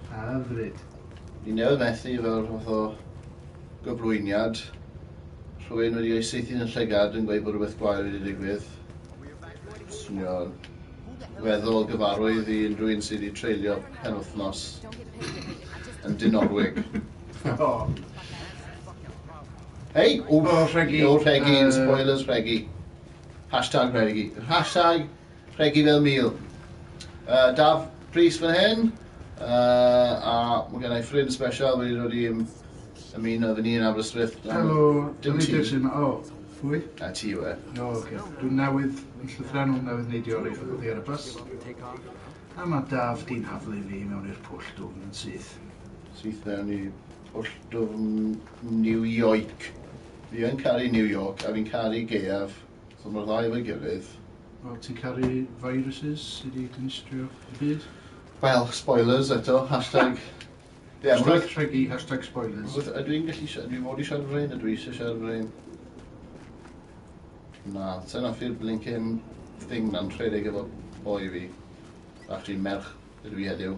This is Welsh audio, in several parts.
Hyfryd. Ni newydd methu fel rhywbeth o gyflwyniad, rhywun wedi ei saethu'n y llygad yn gweud bod rhywbeth gwael wedi digwydd. Swnio'n weddol gyfarwydd i unrhyw un sydd wedi treulio penwythnos yn Dinorwig. O! Hei! O, rhegi! O, rhegi, yn spoilers, rhegi. Hashtag rhegi. Hashtag Rhegi fel mil. Yy Daf Prys fan hyn, yy a ma' gennai ffrind sbesial wedi dod i ym- ymuno efo ni yn Aberystwyth. Helo, Dafydd Jason, o, pwy? Na ti yw e. O ocê, dw newydd yn llythrennol newydd neidio oddi oddi ar y bws, a ma' Daf di'n haflu fi i mewn i'r pwll dwfn yn syth. Syth mewn i pwll dwfn New Yoik. Fi yn caru New York a fi'n caru gaeaf. So mae'r ddau efo'i gilydd. Wel, ti'n caru viruses sy 'di dinistrio y byd? Wel, spoilers eto, hashtag... Ie, ma' hwnna... Hashtag rhegi, hashtag spoilers. Wrth- Ydw i'n gallu si- dwi fod i siarad am rhein? Ydw i eisiau siarad am rhein? Na, sa i'n hoffi'r blincin thing na'n rhedeg efo boi fi. Actually, merch ydw i heddiw.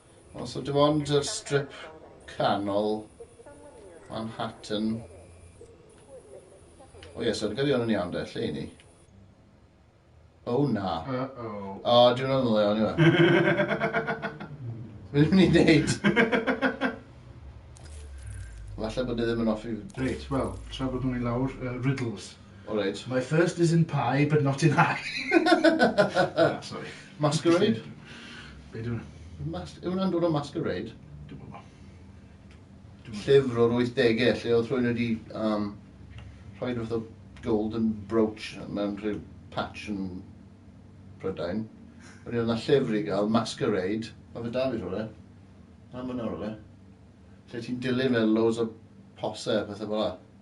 Os o dim ond yr strip canol Manhattan. O ie, so dwi'n cael yn iawn de, lle i ni? O oh, na. Uh-oh. O, oh, dwi'n meddwl le o'n i fe. Mae'n mynd i wneud. Falle bod e ddim yn offi. Reit, wel, tra bod nhw'n ei lawr, uh, riddles. O reit. My first is in pie but not in high. Na, sori. Masquerade? Be' 'di wnna? Mas- yw wnna'n dod o masquerade? Dwi'm yn gwbo. Llyfr o'r wythdege lle o'dd rhywun wedi yym rhoi rhyw fath o golden brooch mewn rhyw patch yn Prydain. Wedyn o'dd 'na llyfr i ga'l, Masquerade. Ma' fe 'da fi rhywle. Lan myn nawr yw e. Lle ti'n dilyn fel loads o pose a pethe fel 'a.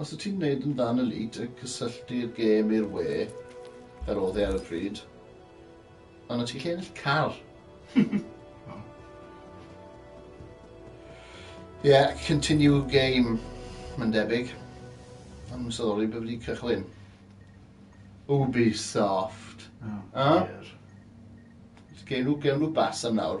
Os wyt ti'n gwneud yn dda yn y lît a cysylltu'r gêm i'r we, fel oedd e ar y pryd, ond wyt ti'n gallu ennill car. Ie, yeah, continue game, mae'n debyg. Am yn sylwi bod wedi cychwyn. Ubisoft. Oh, A? dear. Gewn nhw, gewn nhw bas am nawr.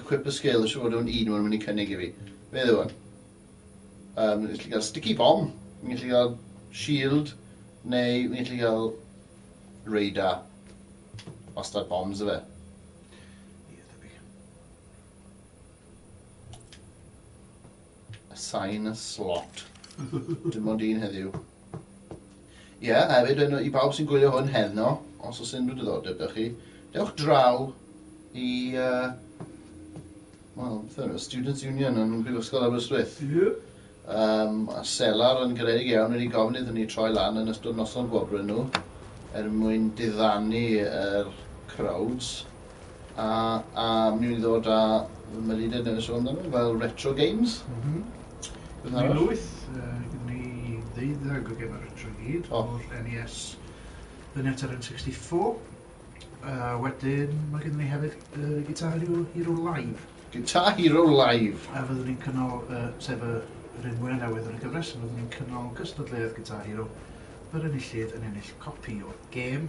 Equip a skill, siŵr fod o'n un o'n mynd i cynnig i fi. Be yw hwn? Um, fi'n gallu cael sticky bomb, fi'n gallu cael shield, neu fi'n gallu cael radar. Wastad bombs yfe. Assign a slot. Dim ond un heddiw. Ie, yeah, hefyd yn, i bawb sy'n gwylio hwn heno, os oes unrhyw diddordeb da chi, dewch draw i... Uh, Wel, beth yw, Students' Union yn Brifysgol Aberystwyth. Ie. Um, a Selar yn garedig iawn wedi gofyn iddyn ni troi lan yn ystod noson gwobrwyn nhw er mwyn diddanu yr er crowds. A a mi wn i ddod a fy melinden newydd sôn amdano fel retro games. M-hm. Beth arall? Ni lwyth yy gin ni ddeuddeg o geme retro i gyd. O. O'r En Ee Ess fyny at yr Em Sixty Four. A wedyn ma' gynno ni hefyd yy Guitar Hero Hero Live. Guitar Hero Live. A fyddwn ni'n cynnal yy sef y yr un mwya newydd yn y gyfres a fyddwn ni'n cynnal gystadleuaeth Guitar Hero yr enillydd yn ennill copi o'r gêm.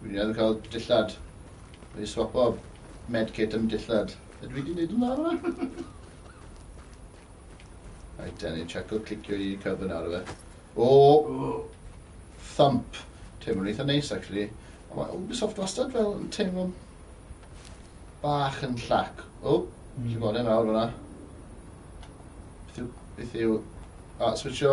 Dwi newydd cael dillad. Dwi wedi swapo medkit am dillad. Ydw i wedi gwneud yn dda fan'na? Rhaid da ni chaco clicio i cyfyn ar fe. O! Thump. Teimlo'n eitha neis, actually. Ond mae Ubisoft wastad fel yn teimlo bach yn llac. O! Mm. Ti'n gweld e nawr fan'na. Beth yw... Beth yw... A, switcho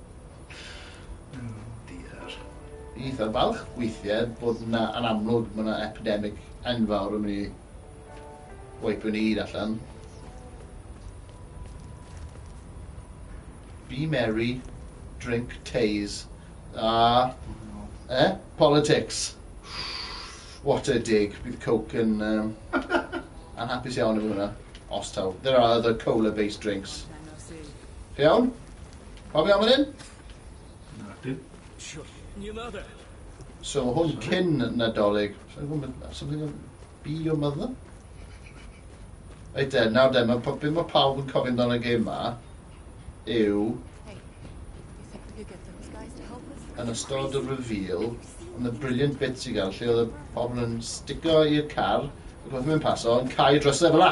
Diar. Eitha balch weithie bod 'na yn amlwg ma' 'na epidemic enfawr yn myn' i waipio ni gyd allan. Be merry, drink Tay's a e? Politics. What a dig. Bydd coke yn yym anhapus iawn efo hwnna. Os taw. There are other cola based drinks. Chi'n iawn? Pawb iawn fan hyn? Na, dim. Sure, your mother. So hwn cyn Nadolig. Something of be your mother? Reit de, nawr de, mae pob dim mae pawb yn cofio amdano y gêm ma yw yn ystod y reveal yn y brilliant bit sy'n gael lle oedd y pobl yn sticio i'r car ac oedd yn mynd paso yn cael ei drysau fel la.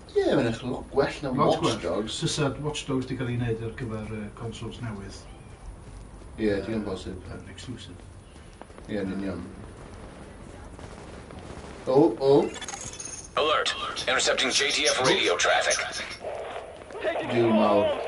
Ie, mae'n edrych yn lot gwell na Watch Dogs. Lot gwell. Fysa Watch Dogs wedi cael ei wneud ar gyfer uh, consoles newydd. Ie, yeah, digon bosib. Yn uh, exclusive. Ie, yeah, yn union. O, oh, o. Oh. Alert! Intercepting JTF radio traffic. Duw mawr.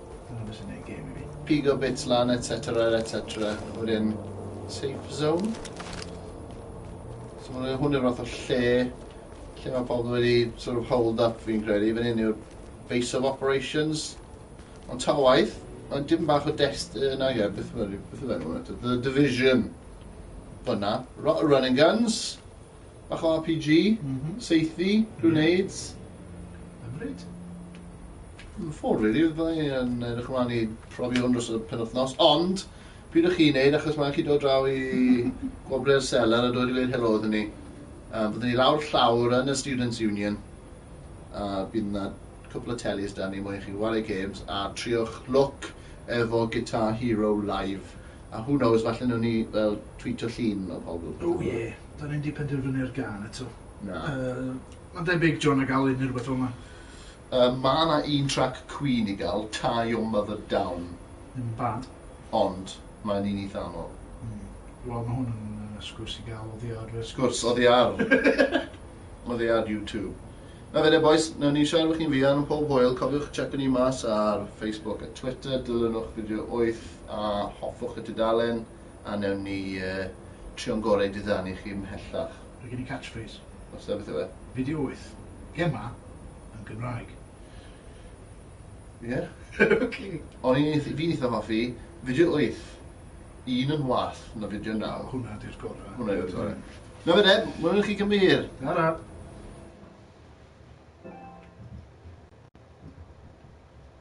Dyna be sy'n neud gêm i fi. Pigo bits lan etc etc o'r un safe zone. So ma' hwn yw'r fath o lle lle mae pobl wedi sort of hold up fi'n credu. Fan hyn yw'r base of operations. Ond ta waith, mae'n dim bach o dest uh, na ie, beth yw beth yw enw The division. Fyna. Run and guns. Bach o RPG, saethu, grenades. Hyfryd. Yn ffwrdd, rili. Fydda i yn edrych ymlaen i profi hwn dros y penwythnos. Ond, pryd ych chi'n neud, achos mae'n chi dod draw i gwobre'r seler a dod i weud helo iddyn ni. Uh, byddwn ni lawr llawr yn y Students' Union. A uh, bydd yna cwpl o telis da ni mwyn chi wario games a triwch look efo Guitar Hero live. A who knows, falle nhw'n ni fel tweetio llun o pobl. Oh yeah. 'Da ni'm 'di penderfynu ar gân eto. Na. Yy, ma'n debyg John ac Alun ne' rwbeth fel 'na. Yy, ma' 'na un trac Queen i ga'l, Tie Your Mother Down. Ddim yn bad. Ond, mae'n un eitha anodd. Hmm. Wel, ma' hwn yn yy sgwrs i ga'l oddi ar yy... Sgwrs oddi ar! Oddi ar you two. Na fe de bois, newn ni siarad efo chi'n fuan yn pob hwyl, cofiwch checio ni mas ar Facebook a Twitter, dilynwch Fideo Wyth a hoffwch y tudalen. a newn ni trio'n gorau i diddanu chi mhellach. Mae gen i catchphrase. Os da, beth yw e? Fideo wyth. Gemma yn Gymraeg. Ie? ok. O'n i'n eith- fi'n eitha hoffi fideo wyth. Un yn wath na fideo naw. Hwnna di'r gora. Hwnna yw'r gore. Na fe de, mwyn i chi Cymru hir. Tara.